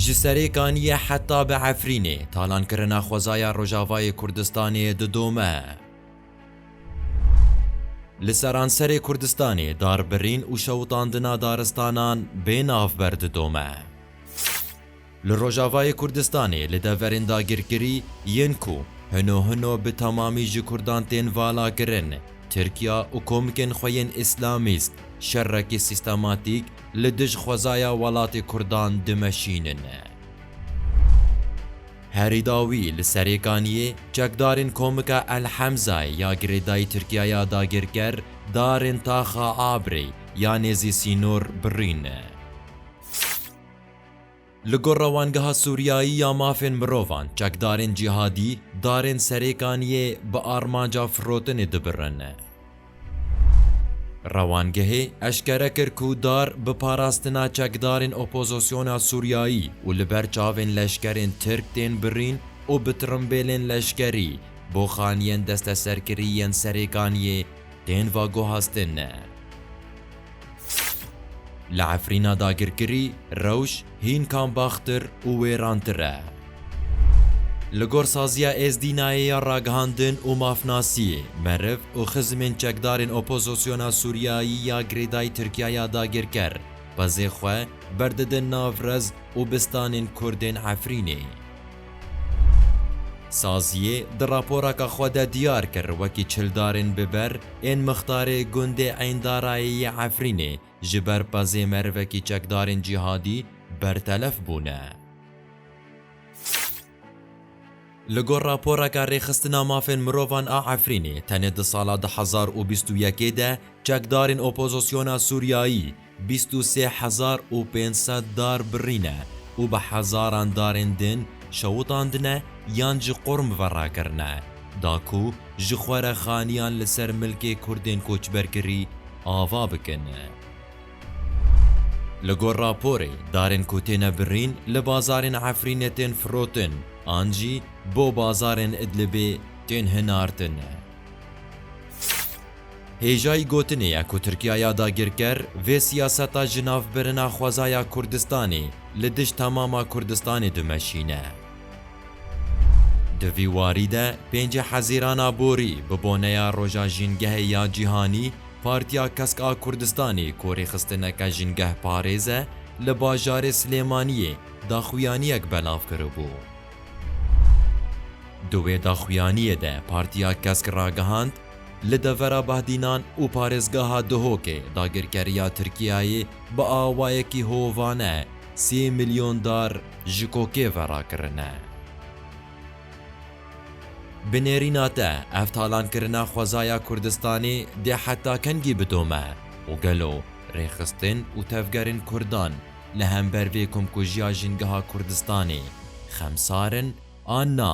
Ji serê kaniyê heta bi Efrînê talankirina xwezaya Rojavayê Kurdistanê didome. Li seranserê Kurdistanê darbirîn û şewitandina daristanan bê navber didome. Li Rojavayê Kurdistanê li deverên dagirkirî yên ku hino hino bi temamî ji Kurdan tên valakirin, Tirkiya û komikên xwe yên Îslamîst şerekî sîstematîk Li dij xwezaya welatê Kurdan dimeşînine. Herî dawî li Serêkaniyê çekdarên komika El Hemzayê ya girêdayî Tirkiyaya dagirker darên Taxa Abrê ya nêzî sînor birîne. Li gor Rewangeha Sûriyayî ya Mafên Mirovan, çekdarên cîhadî darên Serêkaniyê bi armanca firotinê dibirin. Rewangehê eşkere kir ku dar bi parastina çekdarên opozisyona Sûriyayî û li ber çavên leşkerên Tirk tên birîn û bi tirimbêlên leşkerî bo xaniyên desteserkirî yên Serêkaniyê tên veguhestin. Li Efrîna dagirkirî, rewş hîn kambaxtir û wêrantir e. Li gor saziya Êzdînayê ya Ragihandin û Mafnasiyê, meriv û xizimên çekdarên opozosyona Sûriyayî ya girêdayî Tirkiya ya dagirker, xwezê xwe berdidin nav rez û bistanên Kurdên Efrînê. Saziyê di raporaka xwe de diyar kir wekî çildarên bi ber ên mixtarê gundê Eyndarayê yê Efrînê ji ber pezê merivekî çekdarên cîhadî bertelef bûne. Li gor raporaka Rêxistina Mafên Mirovan a Efrînê tenê di sala du hezar û bîst û yekê de çekdarên opozisyona Sûriyayî, Bîst û sê hezar û pênc sed dar birîne û bi hezaran darên din şewitandine yan ji qurm ve rakirine, da ku ji xwe re xaniyan li ser milkê Kurdên koçberkirî ava bikin. Li gor raporê, darên ku têne birîn li bazarên Efrînê tên firotin an jî bo bazarên Idlibê tên hinartin. Hêjayî gotinê ye ku Tirkiya ya dagirker vê siyaseta ji nav birina xwezaya Kurdistanê li dij temama Kurdistanê dimeşîne. Di vî warî de pêncê Hezîran a borî bi boneya Roja Jîngehê ya Cîhanî Partiya Kesk a Kurdistanê ku rêxistineke jîngehparêz e li bajarê Silêmaniyê daxuyaniyek belav kiribû. Di wê daxuyaniyê de Partiya Kesk ragihand, Li devera Bahdînan û parêzgeha Duhokê dagirkeriya Tirkiyeyê bi awayekî hovane sê milyon dar ji kokê ve rakirine. Bi nêrîna te ev talankirina xwezaya Kurdistanê dê heta kengî bidome û gelo rêxistin û tevgerên Kurdan li hember vê komkujiya jingeha Kurdistanê xemsar in an na?